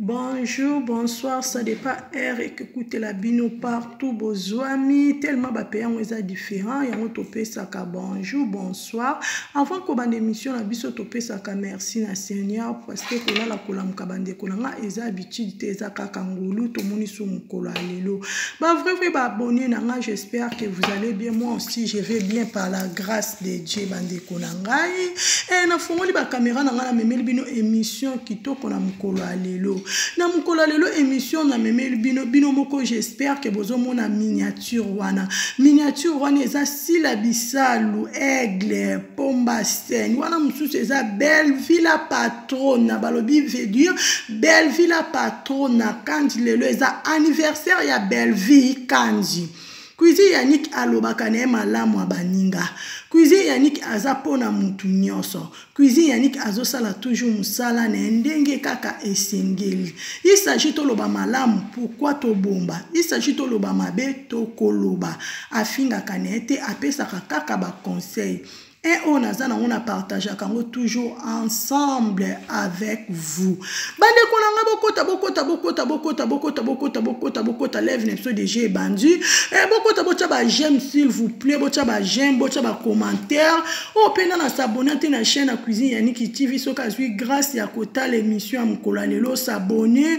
Bonjour, bonsoir, ça dépend heure et que coûte la bino partout bozuami tellement ba pays yango eza différent yango topesaka bonjour, bonsoir. Avant ko bande émission na biso topesaka merci na Seigneur parce que kolala kolamuka bandeko na nga eza habitude te eza kaka ngulu tomoni so mokolo ya lelo. Ba vrai vrai ba abonné na nga j'espère que vous allez bien moi aussi je vais bien par la grâce de Dieu bandeko na ngai e, nafungoli bakamera na ngai namemeli bino émission kitoko na mokolo ya lelo na mokolo ya lelo émission namemeli bino bino moko j'espère ke bozomona miniature wana miniature wana eza sila bisalu aigle pomba sen wana mosusu eza bellevie la patrona balobi vedure bellevie la patrona kandi lelo eza anniversaire ya bellevie kandi Cuisine Yannick alobaka na ye malamu ya baninga. Cuisine Yannick aza mpo na mutu nyonso. Cuisine Yannick azosala toujours mosala na ye ndenge kaka esengeli. Il s'agit toloba malamu pourquoi tobomba. Il s'agit toloba mabe tokoloba. Afingaka na ye te, apesaka kaka ba conseils. e oyo naza nango na partageaka yango toujours ensemble avec vous bandeko na ngai bokota bokota bokota bokota bokota bokota bokota bokota leve na biso deja ebandi e bokota botya bajeme s'il vous plaît botya bajeme botya bacommentaire oyo oh, mpe nga na sabone te na chaîne ya cuisine ya niki tv soki azwi grâce ya kotala émission ya mokolo ya lelo sabone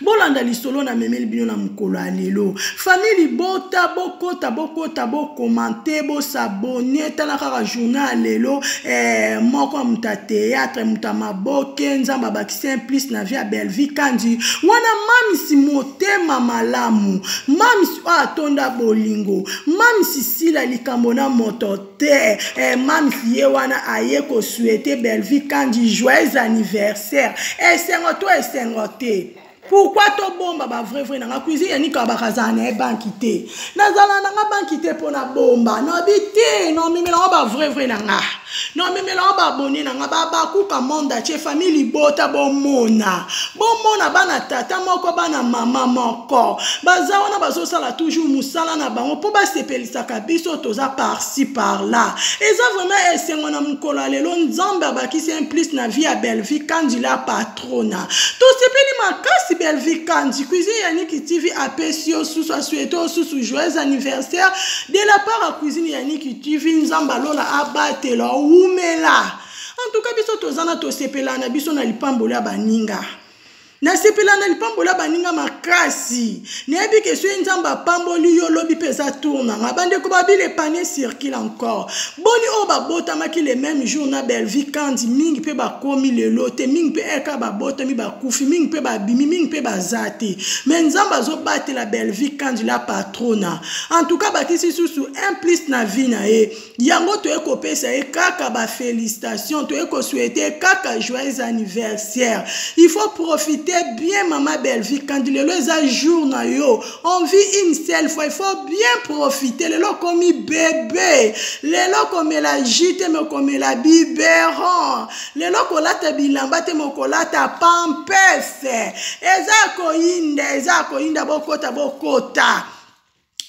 bolanda lisolo na memeli bino na mokolo ya lelo famille libota bokota bokota bokomante bosabone tala kaka journal ya lelo eh, moko ya moto ya théâtre moto ya maboke nzambe abakisi un plus na vie ya bellevie kandi wana mamisi motema malamu mamisi oyo atonda bolingo mamisi sila likambo na moto te eh, mams ye wana aye kosuete bellevie kandi joyeux anniversaire esengo to esengo te pourkui tobomba bavrai vrai na nga cuisine yanika bakazala na ye banki te nazala na nga banki te mpo na bomba nabi te nomemela ngo bavrai vrai na nga nomemela ngo babone na nga babakuka monde atie famille libota bomona bomona bana tata moko bana mama moko baza wana bazosala toujours mosala na bango mpo basepeli saka biso toza parci par là eza vraiment esengo na mokolo ya lelo nzambe abakisi un plus na vie ya bellevie kanji la patrona tosepeli makasi bellevie kanji cuisine ya niki tv apesi yo susu asuete yo susu joyeux anniversaire de la part ya cuisine ya niki tv nzambe alola abatela owumela en tout cas biso toza na tosepelana biso na lipamboli ya baninga nasepela na lipambola baninga makasi nayebi ke soki nzambe apamboli yo lobi mpe eza tour na nga bandeko babili epane circule encore boni oyo babotamaki le même jour na belvi kandi mingi mpe bakomi lelo te mingi mpe eka babotami bakufi mingi mpe babimi mingi mpe baza te me nzambe azobatela belvi kandi la patrona en tout cas bakisi susu un plus na vie na ye yango toye kopesa ye kaka bafélicitation toye kosuete kaka joyeux anniversaire il faut profite bien mama bellevie kandi lelo eza jour na yo on vit une seule fois il faut bien profite lelo okomi bebe lelo okomela ju te me okomela biberon lelo kolata bilamba te me okolata pampese eza koyinda eza koyinda bokota bokota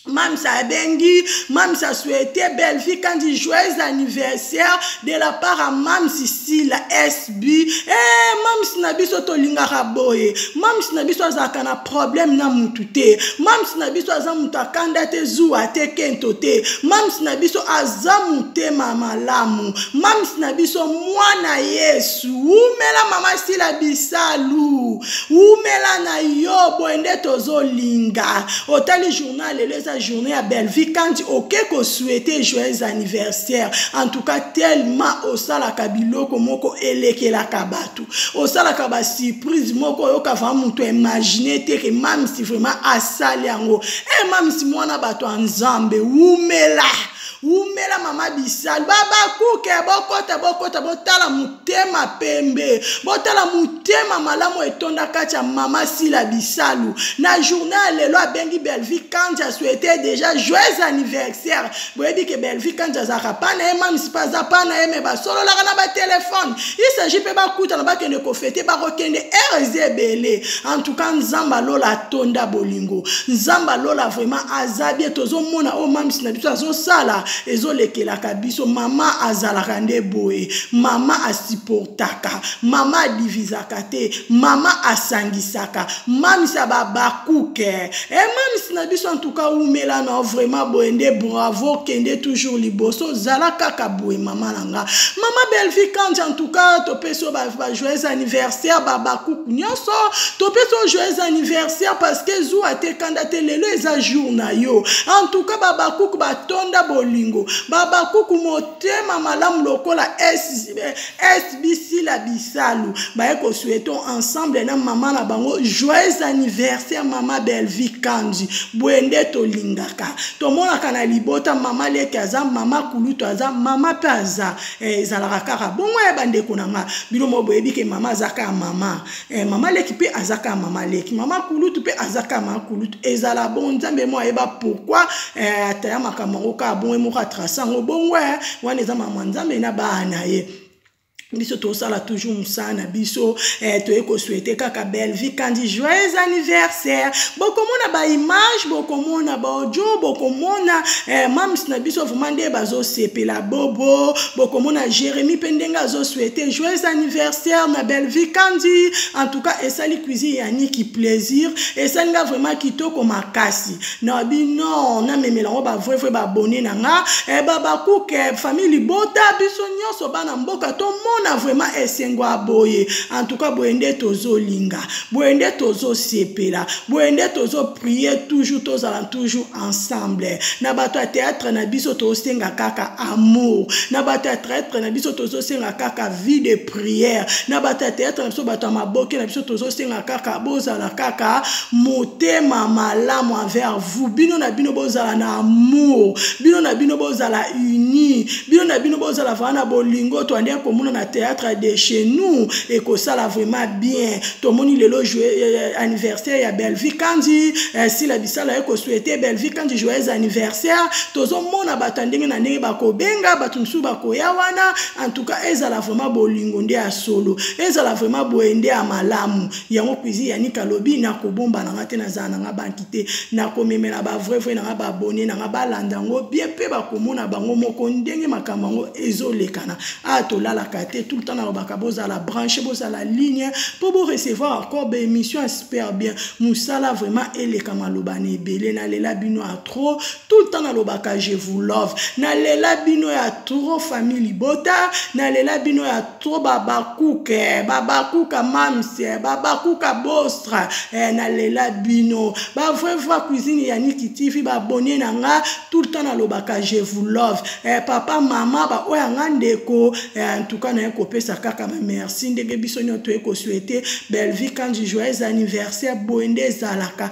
Mam's Abengi, Mam's a souhaité Bellevue quand dit joyeux anniversaire de la part à Mam's Sila SB. Eh, Mam's na biso to lingaka boye. Mam's na biso azaka na problème na mutu te. Mam's na biso aza mutu akanda te zuwa te kento te. Mam's na biso aza mutema malamu. Mam's na biso mwana Yesu. Umela mama Sila bisalu. wumela na yo boye nde tozolinga otali journal lelo eza journée ya bellevie kandi oke kosuete joyeux anniversaire en tout cas tellement osalaka biloko moko elekelaka bato osalaka basurprise moko oyoka vraimen moto imagine te ke mamisi vraiment asali yango e eh, mamisi mwana bato ya nzambe wumela wumela mama bisalu babakuke bokota bokota botala motema pembe botala motema malamu etonda kati ya mama sila bisalu na journal ya lelo abengi belvi kanje asuete deja joyeux anniversaire boyebi ke belvi kanje azalaka pa na ye mamisi mpe aza pa na ye me basololaka na batelefone il s'agit mpe bakutana bakende kofete bakokende ere eza ebele en tout cas nzambe alola atonda bolingo nzambe alola vraiment aza bie tozomona oyo mamisi na biso azosala ezolekelaka biso mama azalaka nde boye mama asiportaka mama adivisaka te mama asangisaka mamisi ya babakuke e eh, mamisi na biso en tout cas wumela na vraiment boye nde bravo kende toujours liboso zala kaka boye mama na nga mama belvi kanji en tout cas topesi yo bajoyeux anniversaire babakuku nyonso topesi yo joyeux anniversaire parce que zuwa te kanda te lelo eza jour na yo en tout cas babakuku batonda bolingo babakuku motema malamu lokola sbc la bisalu baye kosueton ensemble na mama na bango joyeux anniversaire mama belvi kanji boye nde tolingaka tomonaka tomonaka na libota mama lete aza mama kulutu aza mama mpe aza eh, ezalaka kaka bongo ya bandeko na nga bino mo boyebi ke mama aza kaka mama eh, mama leki mpe aza kaka mama leki mama kulutu mpe aza kaka mama kulutu ezala bongo nzambe mo ayeba pourkui eh, ataya makambo yango kaka bongo ye moko atrasa yango bongo wana eza mama nzambe na bana ye biso tosala toujours mosala na biso eh, toye kosuete kaka bellevie kandi joyeux anniversaire bokomona baimage bokomona baaudio bokomona eh, mams na biso vraiment nde bazosepela bobo bokomona jérémi mpe ndenge azosuete joyeux anniversaire na bellevie kandi en tout cas esali cuisine ya niki plaisir esali nga vraiment kitoko makasi na bino namemela yango bavraivrai baabone na nga e eh, babakuke eh, famille libota biso nyonso bana mboka tomona vraimen esengo ya boye antuka boye nde tozolinga boye nde tozosepela boye nde tozoprie toujours tozala toujours ensemble na bato ya théâtre na biso tozosenga kaka amour na bato ya théâtre na biso tozosenga kaka vie de prière na bato ya théâtre na biso bato ya maboke na biso tozosenga kaka bozala kaka motema malamu envers vous bino na bino bozala na amour bino na bino bozala uni bino na bino bozala vraimen na bolingo toandi ya komona na théâtre de chez nous ekosala vraiment bien tomoni lelo eh, eh, anniversaire ya bellevie kanzi eh, sila bisala ye kosuete bellevie kanzi joyeux anniversaire tozomona bato ya ndenge na ndenge bakobenga bato mosusu bakoya wana en tout cas ezala vraiment bolingo nde ya solo ezala vraiment boye nde ya malamu yango cuisine ya nika alobi nakobomba na nga te nazala na nga banki te nakomemela bavrai vrai na nga babone na nga balanda yango bien mpe bakomona bango moko ndenge makambo yango ezolekana a ah, tolalaka te tout le temps nalobaka bozala branche bozala ligne mpo borecevoir encore baémission ya super bien mosala vraiment eleka maloba na ebele nalela bino trop tout le temps nalobaka je vous love nalela bino ya trop famille libota nalela bino ya trop babakuke eh, babakuka mamse eh, babakuka bostra eh, nalela bino bavrai voi cuisine ya niki tv babone na nga tout le temps nalobaka je vous love eh, papa mama baoyo ya nga ndeko eh, en tout cas naye kopesa kaka bamerci ndenge biso nyonso toye kosuete bellevie kanji joyeux anniversaire boye nde ezalaka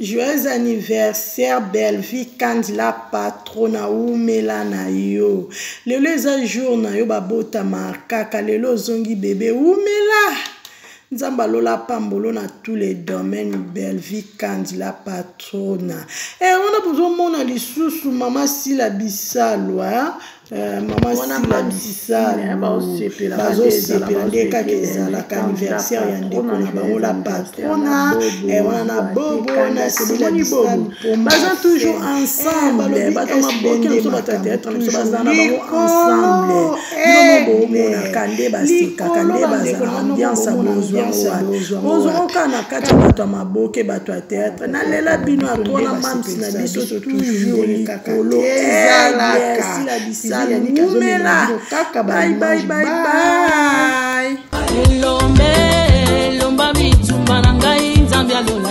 Joyeux anniversaire Bellevue Kandila patrona umela na yo lelo eza jour na yo babotama kaka lelo ozongi bebe umela nzambe alola apambolo na tous les domaines belvie kandi la patrona e eh, wana bozomona lisusu mama sila bisalwa eh, mama sila bisalbazosepela nde kaka ezalaka anniversaire ya ndeko na bango la patrona eh, wana na bobo na sila bisalbaza toujours ensemble bato maboke na biso batata ya biso baza na bango ensemble bino bomonaka nde basekaka nde bazala ambiance bozwaozwaka na kati ya bato ya maboke bato ya théâtre nalela bino atwana mams na biso toujours likolo ezalakasila bisalumela baibaibaibai elombe elomba bitumba na ngai nzambe alola